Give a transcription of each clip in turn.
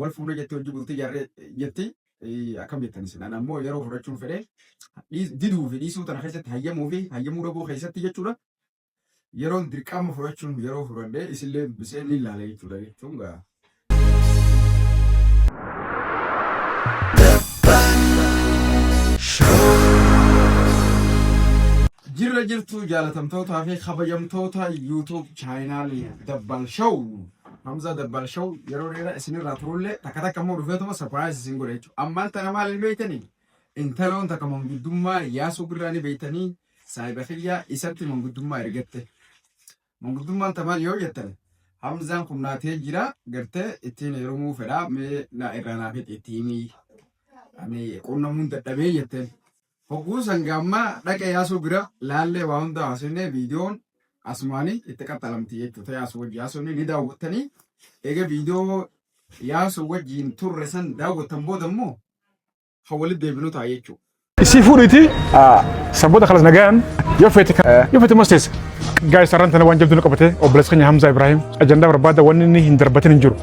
Wal fuuna jettee hojii bultii jaarree jetti akkam jettan isin an ammoo yeroo fudhachuun fedhe diduu fi dhiisuu tana keessatti hayyamuu fi hayyamuu dhabuu keessatti jechuudha yeroon dirqama fudhachuun yeroo fudhadhee isillee dubbisee ni ilaala jechuudha jechuun gaa. Jirra jirtu jaalatamtootaa fi kabajamtoota YouTube chaayinaalii Dabbal Show Hamzaa Dabbaal Show yeroo dheeraa isinirraa turullee takka takka immoo dhufeetuma surprise isin godha jechuudha. Ammaan tana maal hin beektanii? Intaloon takka manguddummaa yaasuu birraa ni beektanii saahiba kiyyaa isatti manguddummaa ergatte. Manguddummaan tamaan yoo jettan Hamzaan kun naatee jira gartee ittiin heerumuu fedhaa mee na irraa naaf itti himii. Ani qunnamuun dadhabee jetteen. Hogguus hanga ammaa dhaqa Yaasuu bira laallee waa hundaa haasofnee viidiyoon asumaanii itti qaxxalamti jechuudha. Yaasuu wajjin haasofnee ni daawwattanii egaa viidiyoo Yaasuu wajjin turre san daawwattan booda immoo kan walitti deebinu ta'a jechuudha. Isii fuudhiiti sabboota kalas nagaan yoo feete yoo feete mas teessa. Gaa'e sararaan tana waan jabduu nu qabate obboleessa keenya Hamzaa Ibrahim ajandaa barbaada wanni inni hin darbatin hin jiru.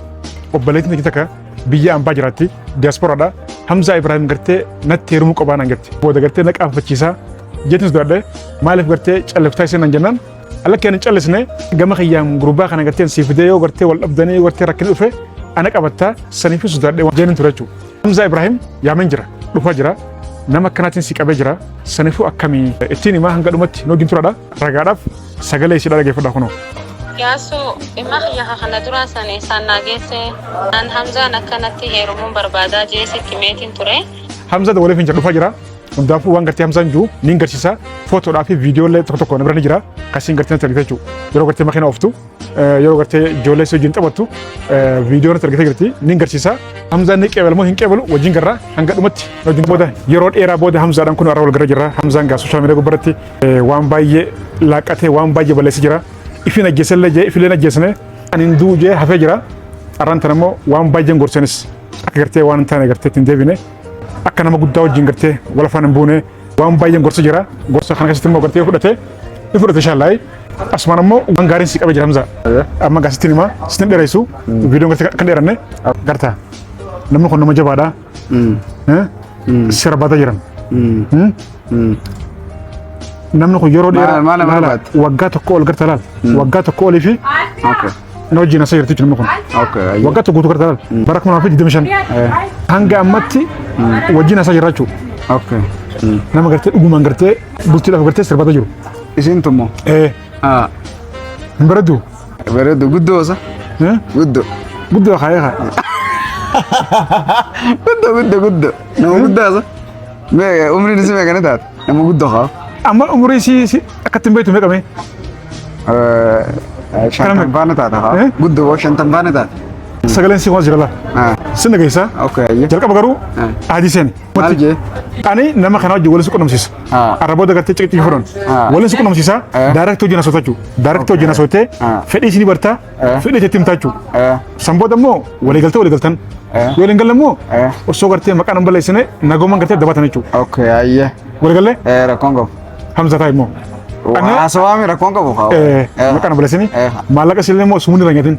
Obboleettiin takka biyya ambaa jiraatti diyaasporaadha hamzaa ibraahim gartee natti heerumuu qabaa naan jette booda gartee na qaanfachiisaa jettis duradhe maaliif gartee calliftaa ishee naan jennaan ala kee hin callisne gama kiyyaan gurbaa kana gartee siif fidee yoo gartee wal dhabdanii yoo gartee rakkina dhufe ana qabattaa saniif hin sodaadhe waan jeenin ture jechuudha. Hamzaa Ibraahim yaamen jira dhufaa jira nama akkanaatiin si qabee jira saniifuu akkamii ittiin himaa hanga dhumatti noo ginturaadha ragaadhaaf Sagalee ishidha dhaggeeffadha kunoo. Yaasuu dhimma kiyya ka kana duraa san isaan naa geesse an Hamzaan akkanatti heerumuun barbaadaa jee sitti meetiin ture. Hamza da waliif hin jedhu dhufaa jira. Hundaafuu waan gartee Hamzaan jiru ni hin garsiisa. Footoodhaa fi viidiyoo illee tokko tokko na bira ni jira. Kasiin gartee natti argite jechuudha. Yeroo gartee makiina ooftu, eh, yeroo gartee ijoollee si wajjin taphattu eh, viidiyoo natti argite jirti ni hin garsiisa. Hamzaan ni qeebalu moo hin qeebalu wajjin garraa hanga dhumatti. Wajjin booda yeroo dheeraa booda Hamzaadhaan kun irra wal gara jirra. Hamzaan gaa sooshaal miidiyaa gubbaratti Waan baay'ee laaqqatee waan baay'ee balleessi jira. Ifiin ajjeesellee jee ifileen ajjeesne kan hin du'u jee hafee jira. Arraan tan ammoo waan baay'een gorsanis akka gartee waan hin taane gartee ittiin deebine akka nama guddaa wajjin gartee wal afaan hin buune waan baay'een gorsa jira. Gorsa kana keessatti immoo gartee fudhate ni fudhate shaallaayi. Asumaan ammoo waan gaariin si qabe jira Hamza. Amma gaasittiin himaa sitin dheeressu viidiyoon gartee kan dheeranne gartaa. Namni kun nama jabaadha. sirbaata jiran. Namni kun yeroo dheeraa Maal- maal- maal laala, baate? waggaa tokko ol garta laal waggaa tokko olii fi Okay. na wajjin asii jirti namni kun Okay. ayyo. waggaa tokko guutuu garta laal bara kuma lamaa fi digdamii shan hanga ammatti wajjin asii jirra jechuudha. Okay. Nama gartee dhugumaan gartee bultii lafa gartee sirbaata jiru. Isin tummo. Eh, Ah. Hin bareedu. Bareedu guddoo osa. Eh? Guddoo. Guddoo ka'ee ka'e. Guddoo guddoo guddoo. Nama guddaa osa. Mee umriin isii meeqa ni taate? Nama guddoo haa. Amma umurii si si akkatti hin beektu meeqa mee? Shantan faana taata haa. Eh? Guddoo boo shantan faana taata. Sagaleen si waan jira laa. Ah, Sin dhageessaa? Okay, ayya. Jalqaba garuu Ah. ahadii seeni. Maal jee? Ani nama kana wajjin walitti qunnamsiisa. Ah. Arra booda gartee ciqiccii furan. Ah. Walitti qunnamsiisa. Eh. Daaraktii hojii nasoo tachuu. Daaraktii hojii nasoo tee Ah. fedhii isinii bartaa. Eh. Fedhii itti himtaa jechuu. Eh. San booda immoo waliigaltee waliigaltan. Eh. Yoo waliin galle immoo Eh. osoo gartee maqaa nama balleessine nagooman gartee dabaatan jechuu. Okay, ayyee. Waliigallee Eh, rakkoon qabu. Hamza taa'e immoo. Ani- Waa sowaami rakkoon qabu haa. Eh, maqaa nama balleessine Eh. maallaqa isinillee immoo sumuun irra hin nyatin.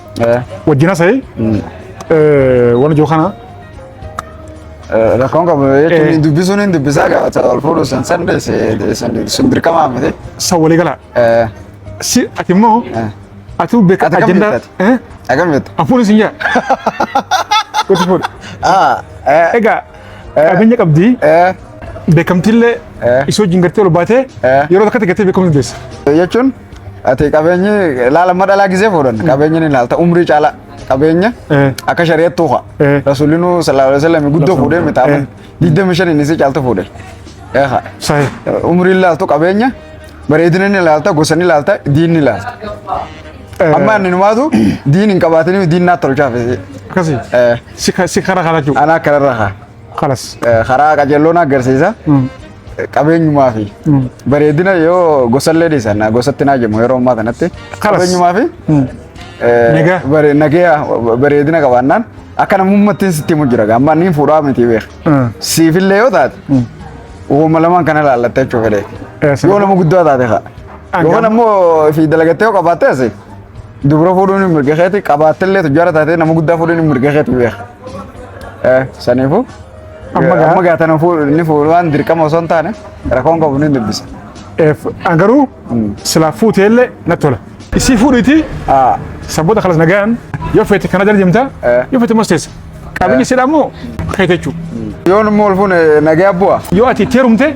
wajjin hasa'i waan ijoo kana Rakkoon qabu Eh. jechuun dubbisuun hin dubbisaa gaafata wal fuudhu san san deesse sun dirqamaa miti. san walii gala Eh, si ati immoo eh. ati beeka Ati kam ajandaa beektaati? eh Akkam jettu? afuun isin yaa wajji fuudhu Ah, eh, egaa qabeenya qabdi eh, beekamtiillee Eh. isoo wajjin gartee ol baatee Eh. yeroo takkatti gartee beekamti deessa. jechuun Ati qabeenyi laala amma dhalaa gisee fuudhan qabeenyi ni laalta umrii caala qabeenya Eh. akka shari'attuu haa. Eh. Rasuulinu sallallahu alaihi wasallam guddoo fuudhee miti amma Eh. digdami shaniin isii caaltu fuudhe. Eh, haa. Sahi. Umrii laaltu qabeenya bareedina ni laalta gosa ni laalta diin ni laalta. Amma inni numaatu diin hin qabaatiniif diin naa tolchaaf. Akkasi. Eh. Si ka- si kara kana jiru. Anaa kanarra haa. Kalas. Eh, karaa qajeelloon agarsiisa Mm. Eh, qabeenyumaa fi Mm. bareedina yoo gosallee dhiisan gosatti naa jedhamu yeroo ammaa kanatti Kalas. qabeenyumaa fi Mm. eh, Nagaa. bare- nagaa bareedina qabaannaan akka namummattiin sitti himu jira amma niin fuudhaa miti beeka Mm. siifillee yoo taate Mm. uumama lamaan kana ilaallattee jechuu fedhe Eh, sana- yoo nama guddaa taate kaa Angam- yookaan ammoo fi dalagattee yoo qabaatte asi dubra fuudhuun hin mirga keeti qabaattillee tujjaara taatee nama guddaa fuudhuun hin mirga keeti beeka Eh, Saniifuu Amma gaa- amma gaatan ni fuudhu waan dirqama osoo hin taane rakkoon qabu ni dubbisa. Eef, an garuu silaa fuuteellee natti tola. Isii fuudhiitii Ah, sabboota kalas nagaan yoo feete kana jala deemta Eh. yoo feete immoo teessa. Qabiyyee siidhaa immoo keete jechuudha. Yoo nu mool fuune nagaya bu'a. Yoo ati itti heerumte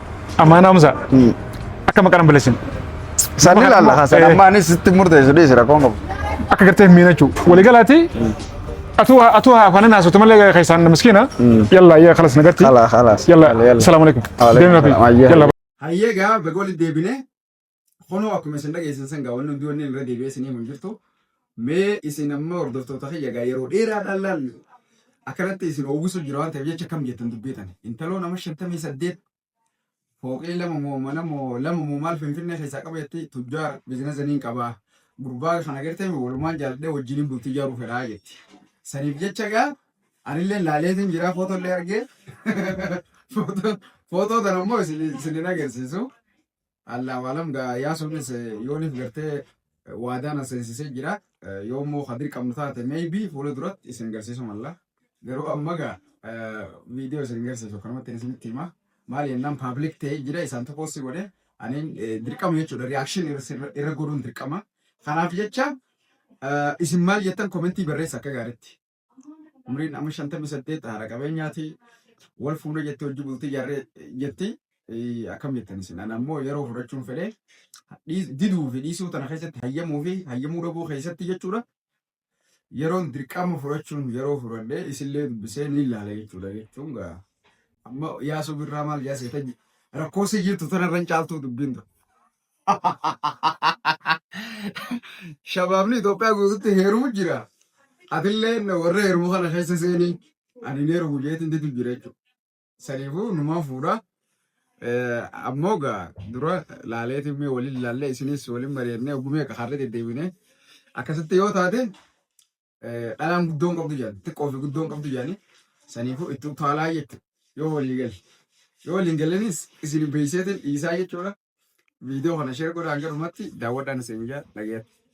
Ammaan Hamza akka maqaan balleessin. San ni ilaalla haa san Eh. amma anis sitti murteessu dhiisi rakkoon qabu. Akka gartee hin miinachuu. Walii galaati atuu atuu haa kanan haasofte malee keessaan miskiina. Yalla yaa kalas nagarti. Kalaas kalaas. Yalla salaamu alaikum. Waalaikum Deemi salaam. Ayyaa. Yalla Hayyee gaa baga walitti deebine. Kunoo akkuma isin dhageessan san gaa wanni hundi wanni irra deebi'ee isin himu hin jirtu. Mee isin amma hordoftoota kiyya gaa yeroo dheeraadhaan laal akkanatti isin oowwisu jira waan ta'eef jecha kam jettan dubbii tana. Intaloo nama shantamii saddeet fooqii lama moo mana moo lama moo maal finfinnee keessaa qaba jetti tujjaar bizinasa niin qabaa. Gurbaa kana gartee mi walumaan jaaladhee wajjiniin bultii ijaaruu fedhaa jetti. Saniif jecha gaa anillee laaleetiin jiraa footoo illee argee footoo footoo tana immoo isin isin hin agarsiisu. Allaa waalam gaa yaa sunis yooniif gartee waadaan aseensisee jira. Yoo immoo ka dirqamnu taate maybe fuula duratti isin garsiisu malla. Garuu amma gaa viidiyoo isin garsiisu kanumatti isinitti hima. Maal jennaan paablik ta'ee jira isaan tokko si godhe aniin dirqama jechuudha riyaakshin irra godhuun dirqama. Kanaaf jecha isin maal jettan komentii barreessa akka gaariitti. umriin amma shantamii saddeet haadha qabeenyaati wal fuudhe jettee hojii bultii jarree jetti akkam jettan isin an ammoo yeroo fudhachuun fedhee diduu fi dhiisuu tana keessatti hayyamuu fi hayyamuu dhabuu keessatti jechuudha yeroon dirqama fudhachuun yeroo fudhadhee isillee dubbisee ni ilaala jechuudha jechuun gaa amma yaasuu birraa maal yaasee tajji rakkoo si jirtu tanarran caaltuu dubbiin ture. Shabaabni Itoophiyaa guututti heerumu jira. Atillee warra heerumu kana keessa seeni ani hin heerumu jeetiin didu jira jechuudha. Saniifuu numaan fuudha. Eh, Ammoo gaa dura laaleetiin mee waliin laallee isinis waliin mari'annee ogumee akka har'a deddeebine akkasitti yoo taate dhalaan guddoon qabdu jedhan xiqqoo fi guddoon qabdu jedhanii saniifuu itti utaalaa jette yoo walii galle yoo waliin gallenis isin beeyseetiin dhiisaa jechuudha viidiyoo kana sheer godhaan jedhumatti daawwadhaan isin jaa dhagayatti.